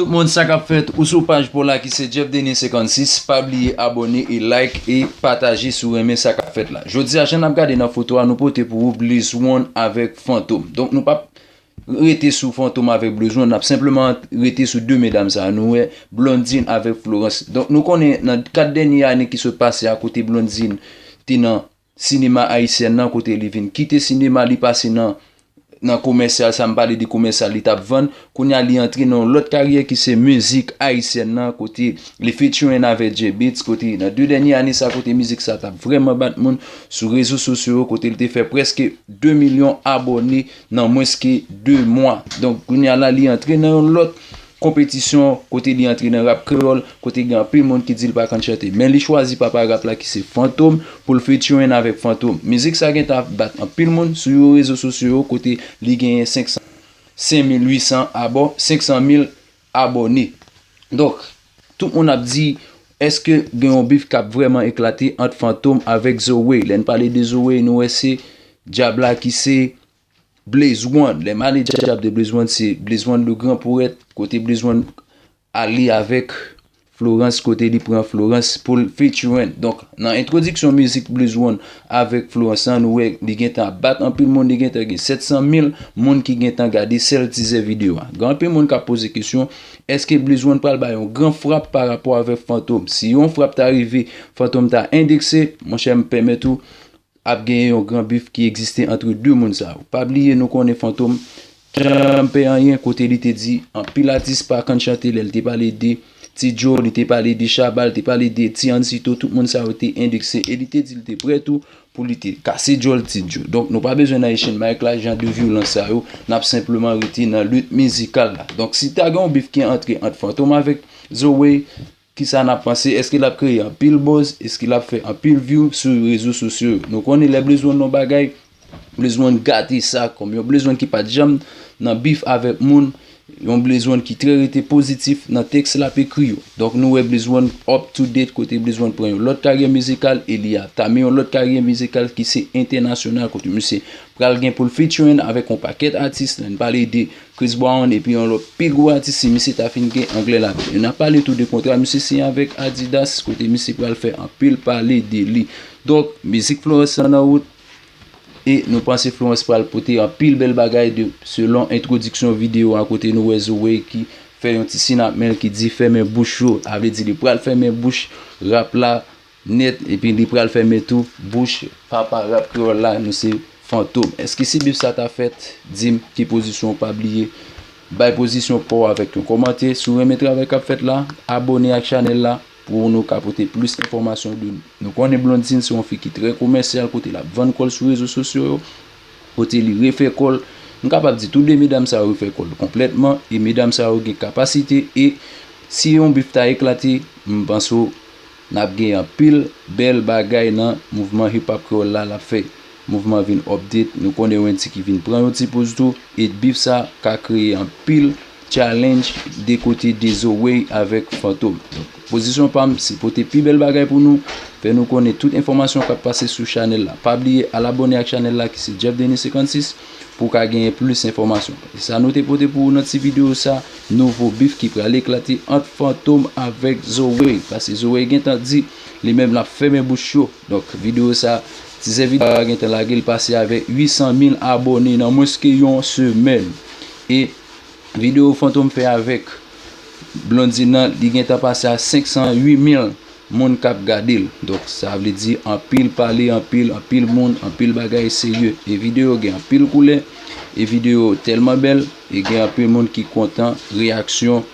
Tout moun sa kap fèt ou sou paj paw la ki se Jeff Denis 56 pa bliye abòne e like e pataje si w renmen sa kap fèt la jodi a jan nap gade nan foto a nou pote pou ou blizwon avèk fantom donk nou pap rete sou fantom avèk blizwon nap senpleman rete sou 2 medam sa nou wè blondine avèk florence donk nou konnen nan 4 dènye ane ki sot pase a kote blondine te nan Sinema Ayisyen nan kote li vin kite sinema li pase nan nan komèsyal sa m pale de komèsyal li tap vann kounye a li antre nan yon lòt karyè ki se mizik Ayisyen nan kote li featuring avèk J-Beatz kote nan 2 dènye ane sa kote mizik sa tap vrèman bat moun sou rezo sosyo yo kote li te fè prèske 2 milyon abòne nan mwens ke 2 mwa donk kounye a la li antre nan yon lòt konpetisyon kote li antre nan rap kreyòl kote gen anpil moun ki di l pa konn chante men li chwazi papa rap la ki se Fantom pou l featuring avèk Fantom mizik sa gentan ap bat anpil moun sou yo rezo sosyo yo kote li genyen 55800 abò 500 mil abòne donk tout moun ap di èske gen yon bif kap vrèman eklate ant Fantom avèk Zoe lè n pale de Zoe nou wè se Dyab la ki se Blaze one lè maneja ap de blaze one se blaze one le grand poète kote blaze one ale avèk Florence kote li pran Florence poul featuring donk nan entwodiksyon mizik blaze one avèk Florence an nou wè li gentan ap bat anpil moun li gentan gen 700 mil moun ki gentan gade sèl tizè video a gen anpil moun kap poze kesyon èske blaze one pral bay yon gran frap pa rapò avèk fantom si yon frap ta rive fantom ta endekse monchè m pèmèt ou Ap genyen yon gran bif ki egziste antre 2 moun sa yo. Pa bliye nou konnen Fantom pa janm pè anyen kote li te di anpil atis pa kann chante lè li te pale de Ti Joe, li te pale de Shabba, li te pale de Ti Ansyto tout moun sa yo te endekse e li te di li te prè tou pou li te kase djòl Ti Joe. Donk nou pa bezwen nan echenn mic la, jan de vyolans sa yo, nap senpleman rete nan lit mizikal la. Donk si ta gen yon bif ki antre ant Fantom avèk Zoe, Kisa nap panse eske lap kreye anpil buzz eske lap fè anpil view sou rezo sosyo yo nou konnen lè Blaze one yon bagay Blaze one gate sa kòm yon Blaze one ki pat janm nan bif avèk moun yon Blaze one ki trè rete pozitif nan tèks lap ekri yo donk nou wè Blaze one up to date kote Blaze one pran yon lòt karyè mizikal e li ap tame yon lòt karyè mizikal ki se entènasyonal kote misye pral gen poul featuring avèk yon pakèt atis lèn pale de Chris Brown epi yon lòt pi gwo atis si misye ta fin gen anglè la tou. E nan pale tou de kontra misye siyen avèk Adidas kote misye pral fè anpil pale de li. Donk mizik Florence lan nan wout e nou panse Florence pral pote anpil bèl bagay de selon entwodiksyon videyo a kote nou wè Zoey ki fè yon ti sin ak men l ki di fèmen bouch yo. A vle di li pral fèmen bouch rap la Net epi li pral fèmen tou bouch papa rap kreyòl la nou se fantom èske si bif sa ta fèt dim ki pozisyon w pa bliye bay pozisyon paw avèk yon kòmante si w renmen travay kap fèt la abòne ak chanèl la pou nou ka pote plis enfòmasyon de nou konnen Blondine se yon fi ki trè komèsyal kote lap vann kòl sou rezo sosyo yo kote li refè kòl m kapab di tou 2 medam sa yo refè kòl konplètman e medam sa yo gen kapasite e si yon bif ta eklate m panse w. Nap gen anpil bèl bagay nan mouvman hip hop kreyòl la lap fè mouvman vin update nou konnen wendyy ki vin pran yon ti poz tou et beef sa ka kreye anpil challenge de kote dezowey avèk fantom donk pozisyon pam se pote pi bèl bagay pou nou fè nou konnen tout enfòmasyon kap pase sou chanèl la pa bliye al abòne ak chanèl la ki se Jeff Denis 56. Pou ka genyen plis enfòmasyon. E sa nou te pote pou ou nan ti videyo sa, nouvo bif ki pral eklate ant Fantom avèk Zoe. Pase Zoe gen tan di, li menm lap fèmen bouch yo. Donk videyo sa, tizè videyo a gen tan lage, li pase avèk 800 mil abòne nan mwens ke yon semèn. E videyo Fantom fè avèk Blondine nan, li gen tan pase a 508 mil Moun kap gadel donk sa vle di anpil pale anpil anpil moun anpil bagay serye e video gen anpil koulè e video telman bèl e gen anpil moun ki kontan reyaksyon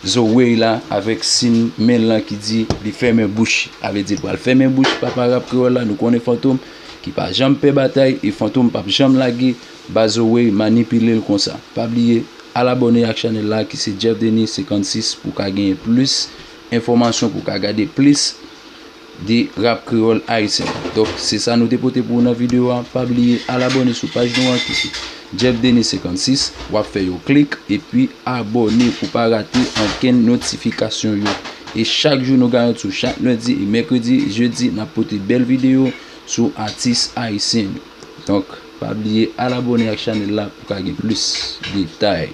Zoey la avèk sin menl lan ki di li fèmen bouch sa vle di li pral fèmen bouch papa rap kreyòl la nou konnen fantom ki pa janm pè batay e fantom pap janm lage ba Zoey manipilel konsa pa bliye al abòne ak chanèl la ki se Jeff Denis 56 pou ka genyen plis Enfòmasyon pou w ka gade plis de rap kreyòl ayisyen. Donk se sa nou te pote pou ou nan videyo a. Pa bliye al abòne sou paj nou an ki se Jeff Denis 56. W ap fè yon klik epi abòne pou w pa rate ankenn notifikasyon yo. E chak jou nou garanti w, chak lendi e mèkredi, jedi n ap pote bèl videyo sou atis ayisyen yo. Donk pa bliye al abòne ak chanèl la pou w ka gen plis detay.